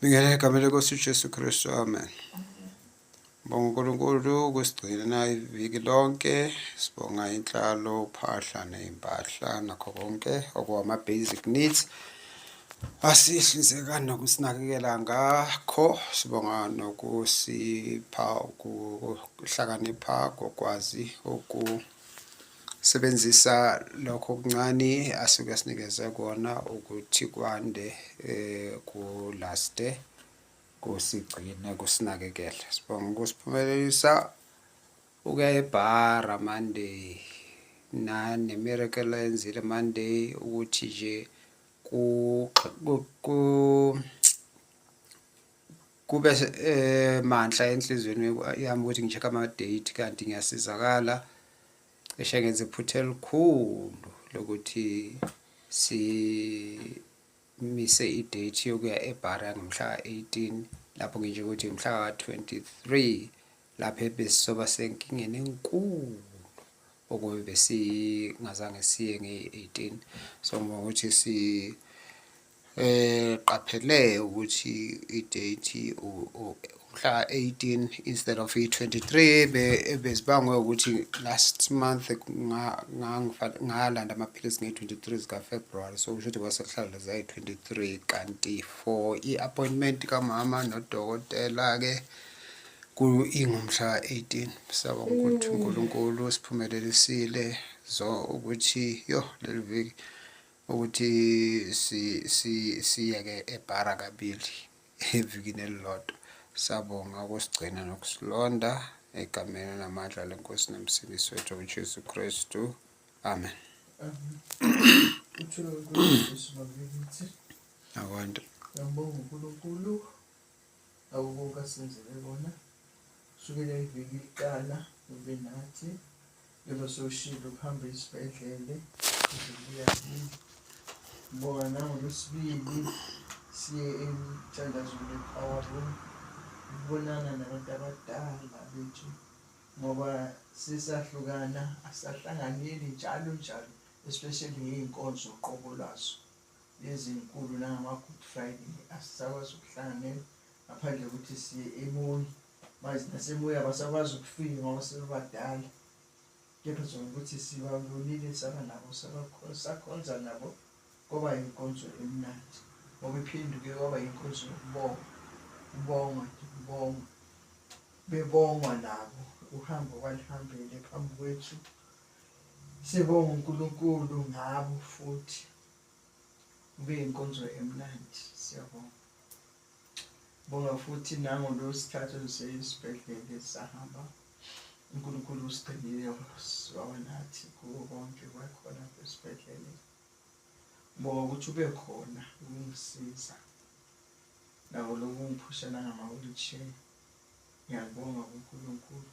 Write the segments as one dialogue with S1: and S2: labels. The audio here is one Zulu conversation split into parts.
S1: Bingela egameni lenkosi uJesu Kristu amen. Bonga uNkulunkulu ukusigcina iviki lonke sibonga inhlalo uphahla nezimpahla nakho konke okuwama basic needs asihlinzeka nokusinakekela ngakho sibonga nokusipha ukuhlakanipha kokwazi uku sebenzisa lokho kuncane asuke sinikeze kona ukuthi kwande eh kulaste kusigcine kusinakekele sibonga ukusiphumelelisa ukuya ebhara monday nane miracle ayenzile monday ukuthi nje ku kube eh, manhla enhlizweni yami ukuthi ngi-check ama-date kanti ngiyasizakala cishe ngenza iphutha elikhulu lokuthi simise i-date yokuya ebhara ngomhla ka-18 lapho ngisho ukuthi mhla ka-23 lapho ebesizoba senkingeni enkulu okube besingazange siye ngeyi-18 so ngoba ukuthi si Eh qaphele ukuthi idate umhla 18 instead of i-23 bezibangwe ukuthi last month ngalanda amaphilisi nge-23 zikafebruwari so kusho ukuthi kwasekuhlala zayi-23 kanti for i-appointment kamama nodokotela-ke ingumhla 18 saba ukuthi unkulunkulu siphumelelisile so ukuthi yo leli viki ukuthi si si siyeke ebhara kabili evikini elilodwa sabonga ukusigcina nokusilonda egameni namandla lenkosi nomsindisi wethu ujesu kristu amen akwande
S2: awubuka senzele bona sukela iviki liqala ube nathi njengoba sewushilo ukuhamba esibhedlele uzobuya kini ngoba nangolwesibili siye emthandazweni we-power room ukubonana nabantu abadala bethu ngoba sisahlukana asahlanganyeli njalo njalo especially ngey'nkonzo qobo lwazo ezinkulu nangama-good friday asisakwazi ukuhlanganyela ngaphandle kokuthi siye emoyi manje nasemoya abasakwazi ukufika ngoba sebebadala kepha zona ukuthi sibabonile saba nabo sakhonza nabo kwaba yinkonzo emnandi ngoba iphenduke kwaba yinkonzo yokubonga kubongwa nje kubongwa bebongwa nabo uhambo kwalihambele phambi kwethu Sibonga uNkulunkulu ngabo futhi kube inkonzo emnandi siyabonga. Bonga futhi nango lo sikhathi esibhedlela sahamba uNkulunkulu usigcinile waba nathi kuwo konke kwakhona esibhedlela. Bonga ukuthi ube khona ukungisiza nawo lokungiphusha nangama-wheelchair ngiyakubonga kuNkulunkulu.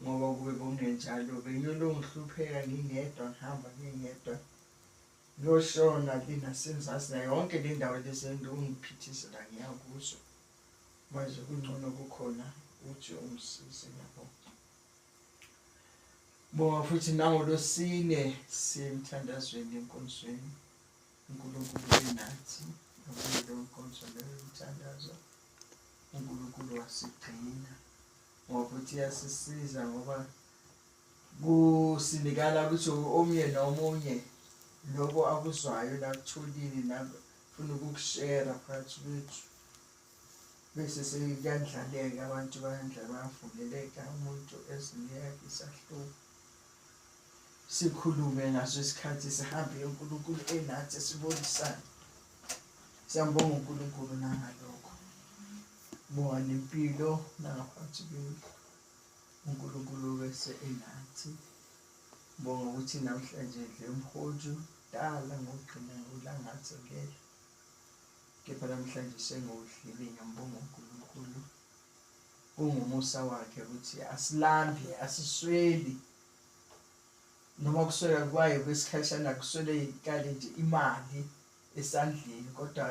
S2: ngoba kube kungenjalo bengiyolokhu ngihlupheka ngingedwa ngihamba ngingedwa ngiyoshona le nasenzasi nayo yonke le ndawo lezentu ungiphithizela ngiya kuzo manje kungcono kukhona uthi ungisize yabo bonga futhi nangolosine siye emthandazweni enkonzweni unkulunkulu benathi nokuyilo nkonzo leyo mthandazo unkulunkulu wasigcina ngokuthi yasisiza ngoba kusinikala ukuthi omunye nomunye lokho akuzwayo nakutholile nafuna ukukushera phakathi kwethu bese sekuyandlaleka abantu bayandla bayavuleleka umuntu ezini yakhe isahluko sikhulume ngaso isikhathi sihambe unkulunkulu enathi sibonisane siyambonga unkulunkulu nangalokho Bongani impilo nangaphansi kwenu uNkulunkulu bese enathi bonga ukuthi namhlanje ndle mhoju dala ngogcina ngolangathi ngeke kepha namhlanje sengowudlile ngiyambonga uNkulunkulu kungumusa wakhe ukuthi asilambi asisweli noma kuswela kwayo kwesikhashana kuswele ikale nje imali esandleni kodwa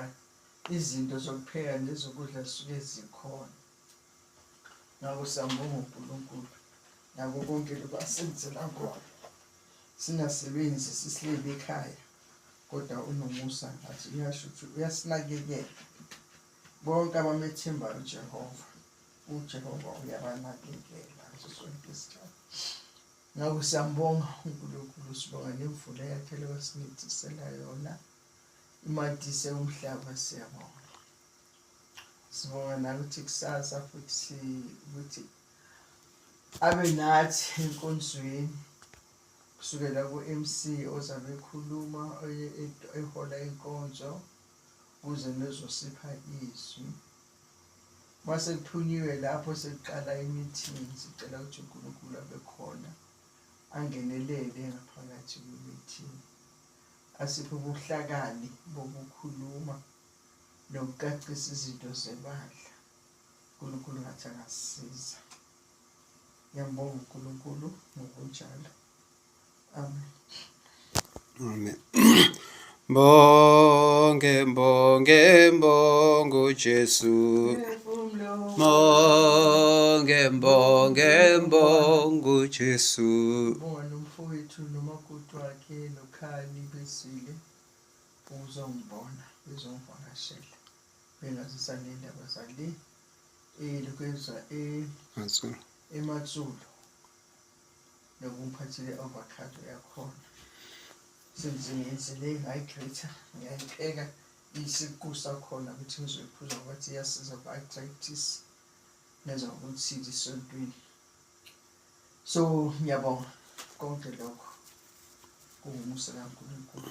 S2: izinto zokupheka nezokudla zisuke zikhona ngakho siyambonga unkulunkulu nako konke lokhu asenzela kona singasebenzi sisilele ekhaya kodwa unomusa ngathi uyasho ukuthi uyasinakekela bonke abamethembayo ujehova ujehova uyabanakekela ngaso sonke isikhathi Ngakho siyambonga uNkulunkulu sibonga nemvula yaphela wasinethesela yona imadise umhlaba siyabonga sibonga nakuthi kusasa futhi si ukuthi abe nathi enkonzweni kusukela ku-MC ozabe ekhuluma ehola inkonzo kuze nezosipha izwi Uma sekuthunyiwe lapho sekuqala i-meeting, sicela ukuthi uNkulunkulu abe khona angenelele ngaphakathi kwi-meeting, asiphe ubuhlakani bokukhuluma nokucacisa izinto zebandla. uNkulunkulu ngathi angasiza. Ngiyambonga uNkulunkulu ngokunjalo. Amen.
S1: Mbonge, mbonge, mbongo Jesu. Mbonge, mbonge, mbongo Jesu. Bona
S2: umfowethu nomakoti wakhe nokhali besile uzongibona bezongivakashela bengazisa nendaba zale elokwezwa e ematsulu nokumphathile avocado yakhona since ngiyenzele i-hydrator ngiyayipheka isiqu sakhona ukuthi ngizoyiphuza ngokuthi iyasiza ku-arthritis nenza ukuthi lisontwini so ngiyabonga konke lokho kungumusa kaNkulunkulu